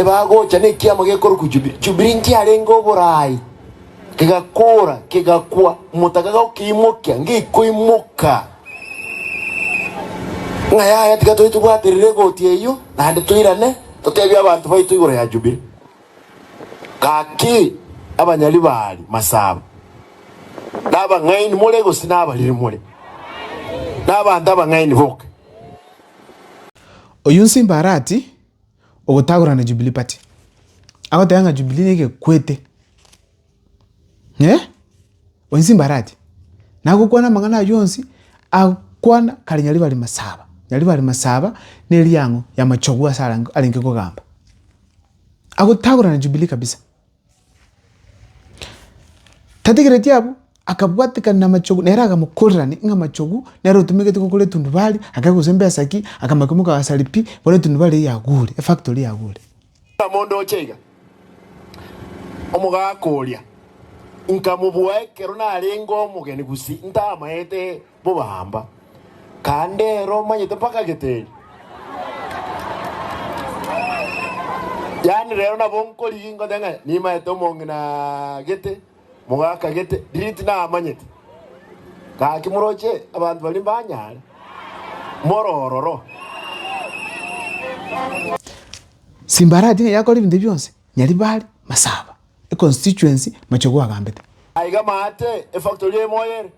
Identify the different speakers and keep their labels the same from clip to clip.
Speaker 1: Ebagocha nekiama gekorokwa Jubili. Jubili nkiarenge oboraai, kegakoora, kegakwa, omotaka gagokeimokia, ngekoimoka. Ng'a yaya tiga tobe tobwaterire egoti eyio, naende toirane, totebie abanto baito igoro ya Jubili. Gaki, abanyari baari, masaba, na abang'aini more gose na abariri more, na abanto abang'aini boka. Oyio nsimbarati. ogotagorana Jubilee party agoteba ng'a Jubilee negekwete eh onsi mbarache nagokwana amang'ana aywo onsi akwana kare nyarebe are masaba nyarebe are masaba na eriang'o ya machogu ase arenge kogamba agotagorana Jubilee kabisa. Tategereti abwo, akabwatekana namachogu, nere agamokorerania ng'a amachogu nere otomegete gokora etundubari, agere gose mbesa ki, akamanya komoka ase ripi, bono etundubari eyio yagure, efactory yagure. Omonto oche iga, omogaaka oria, nkamobua ekero narenge omogeni gusii, ntamaete. Bobaamba, kande ere omanyete mpaka geteri. Yaani rero nabo nkorigia ingote ng'a nimanyete omong'ina gete, mogaka gete, diriti namanyete. Gaki moroche abanto baria mbanyare, more ororo. Simbarati nigo yakora ebinto ebi bionsi, Nyaribari, Masaba, econstituency, Machogu agambete. Aiga maate efactori emoyo ere.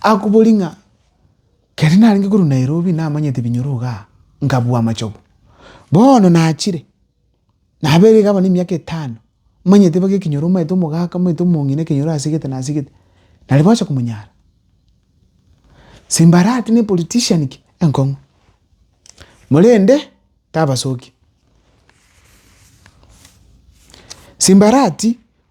Speaker 1: Akobori ng'a, keri narenge korwa Nairobi namanyete binyoro igaa, nkabua amachogo. Bono nachire, nabeire iga abana emiaka etano, manyete boke ekinyoro omanyete omogaka, omanyete omong'ina ekenyoro asegete nasegete, nari gocha komonyara. Simbarati ne politician ki? Enkong'u. Morende tabasoki. Simbarati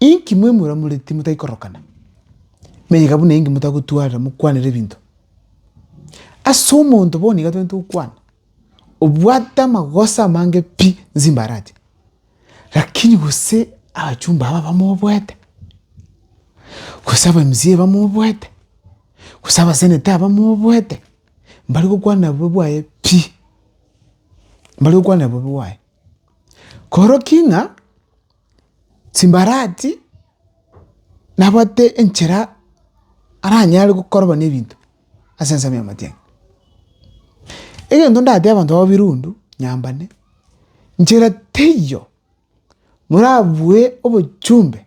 Speaker 1: Inki mwemuramoreti motai korokana? Mega buna inki motagotwarera mokwanera ebinto. Ase omonto bono iga tobete gokwana, obwate amagoso amange pi nsi mbarache, lakini gose abachumba aba bamoboete, gose aba mca bamoboete, gose abaseneta aba bamoboete, mbare gokwana bobe bwaye pi, mbare gokwana bobe bwaye. Koroki ng'a chimbarati nabwate enchera aranyare gokorwa nebinto ase ensemo y'amatianga. Egento ndateba abanto b'ababirundu nyambane, nchera teiyo morabue obochumbe.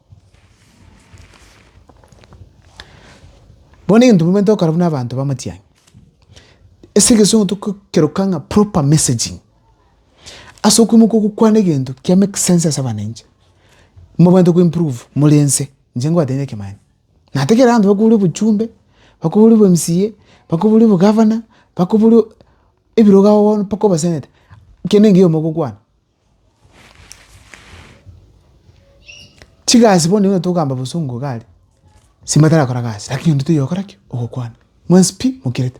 Speaker 1: Bono egento bobe ntokora buna abanto b'amatiang'i, ase egesungu togokeroka ng'a proper messaging, ase okoimoka ogokwana egento kia make sense ase abananchi, mobwenerete koimprove more inse, inche ngobatebi ekemanya, natekire abanto bakobori obochumbe, bakobori bo mca, bakobori obogavana, bakobori ebirogago bono mpaka obaseneta, kende engiya omo ogokwana. Chigasi bono nigo togokamba bosongo iga aria, ase batarakora gasi lakini onde taiyo ogokora ki? Ogokwana. Mwensi pi mokerete.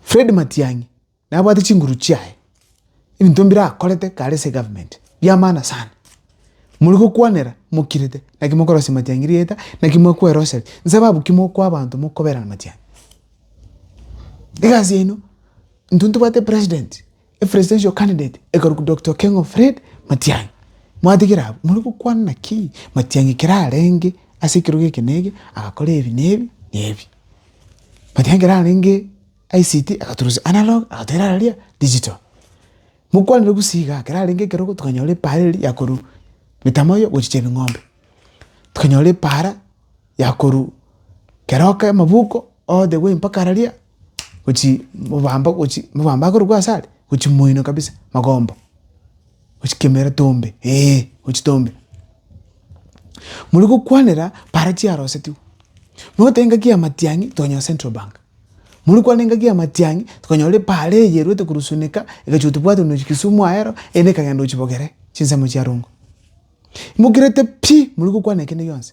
Speaker 1: Fred Matiang'i nabwate chinguru chiaye, ebinto mbirakorete kare ase egavumenti biamana sana. Mori gokwanera mokirete, naki mokorosia Matiang'i rieta, naki mwakwa erosari, nsababu ki mokwa abanto mokoberana Matiang'i? Egasi yaino. Intwe ntobwate president, a presidential candidate ekarukwa Doctor Okengo Fred Matiang'i. Mwatigera abwo, more gokwana naki Matiang'i ekero arenge ase ekerogo eke na eke agakora ebi na ebi na ebi. Matiang'i ekero arenge ICT agaturusia analog agatera aria digital. Mokwanire gusii igaa, ekero arenge ekerogo tokanyora epaara eria ya korwa mitambo eyo gochicha ebing'ombe. Tokanyora epaara ya korwa keroka amabuko all the way mpaka araria. gochi mobamba gochi mobamba akorokwa asare gochi moino kabisa magomba gochi kemera tombe eh gochi tombe mori gokwanera para chiarosetiwe noteba engaki ya matiang'i tokonyora central bank mori kwane engaki ya matiang'i tokonyora para eyeruete korwa sonika egachigo tobwate buna kisumu aero ere ekagenda gochi bogere chinsemo chia rongo imokerete pi mori gokwana kende gionsi.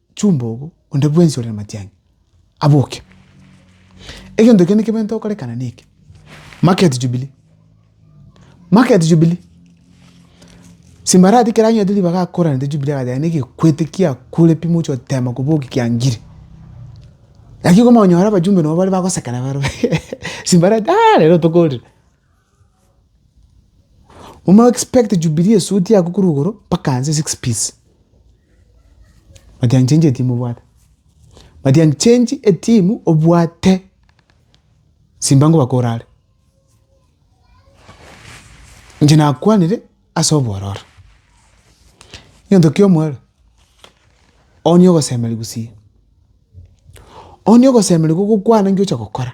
Speaker 1: Chumbogo, onde bwensi ore namatiangi, aboke. Egento ekiya nekebe ntokorekana neke, market jubilee, market jubilee. Simbarati ekero anyorete ribaga akoranete jubilee agachaka negekwete kiakure pi moche otema koboki kiangire. Naki komanya ore abajumbe nabo bare bagosekana bare simbarati rero tokorire. Omanye expect jubilee esuit yako korwa igoro mpaka hansi six piece matiang change etimu obwate matiang change etimu obwate simba nkobaka orare inche nakwanire ase obororo egento kia omoerio onya ogosemeria gusii onya ogosemeria gokokwana nki ocha gokora.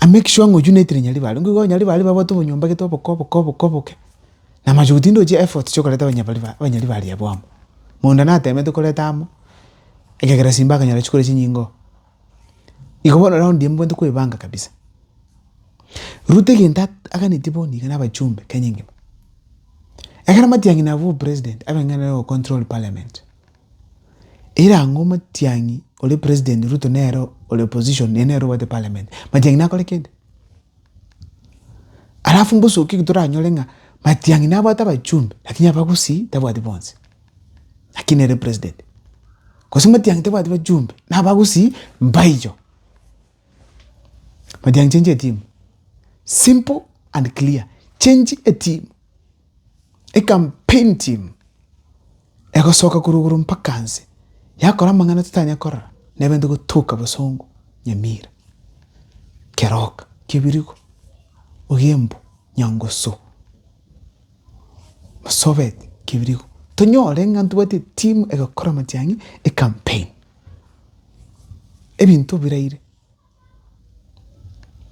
Speaker 1: I make sure ng'a oywo naitire Nyaribari, nigo Nyaribari babwate obonyomba gete oboke oboke oboke oboke, na machogu tindochi effort chia okoreta abanyabariba abanyaribari abwo amo. Mondo natemete koreta amo, ekegera simba akanyora chikori chinyinge oo. Igo bono round eye mbwate koebanga kabisa. Ruto egento at aganeti bono iga na abachumbe Kenya engima. Ekero matiang'i nabwo obopresident, abe ng'a nere ocontrol parliament. Erango omatiang'i ore president Ruto nere ore opposition naye nere obwate parliament matiang'i nakore kende? Alafu mbosoki toranyore ng'a matiang'i nabwate abachumbe lakini abagusii tabwati bonsi lakini nere president gose matiang'i tabwati bachumbe na abagusii mbaicho matiang'i change your team simple and clear change a team a campaign team. Egosoka korwa igoro mpaka nse, yakora amang'ana totanya korora, nebente gotoka bosongo nyamira. Keroka, kebirigo, ogiembu, nyangusu, masobet, kebirigo. Tonyore ng'a ntobwate etimu egokora amatiang'i, ecampaign. Ebinto biraire.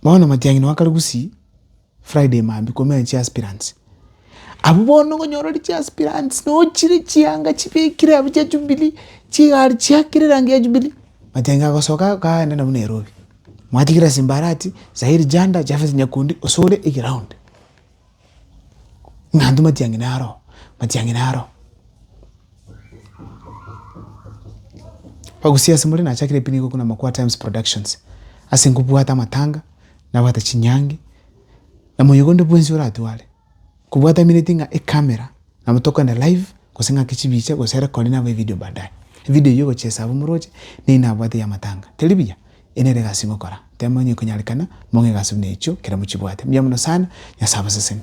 Speaker 1: Bono matiang'ina wa Karugusi Friday mambia komenya chiaspirants. Abwo bono okonyora ore chiaspirants nochire chianga chibekire abwo chia Jubilee, chigari chiakire erangi ya Jubilee, matiang'ina agosoka akaenda nabwo Nairobi. Mwatigira Simbarati, Zahiri Janda, Japheth Nyakundi ase ore egraound. Naende matiang'ina aro, matiang'ina aro. Bagusia ase more nachakire pi nigo buna Makuaa Times Productions. Ase nkobwate amatanga, nabwate chinyangi, na moyo onde bwensi oratware, kobwata emineti ng'a ecamera. Nabo tokogenda live gose ng'aki chibiche gose ere kori nabo evideo baadaye. Evideo eyio ogochia esabo omoroche neyio nabwate y'amatanga. Teri buya? Eye nere egasi ngokora. Temo onye ekonyarekana mong'e egasi buna echio ekero mochibwate. Mbuya mono sana. Nyasae abaseseni.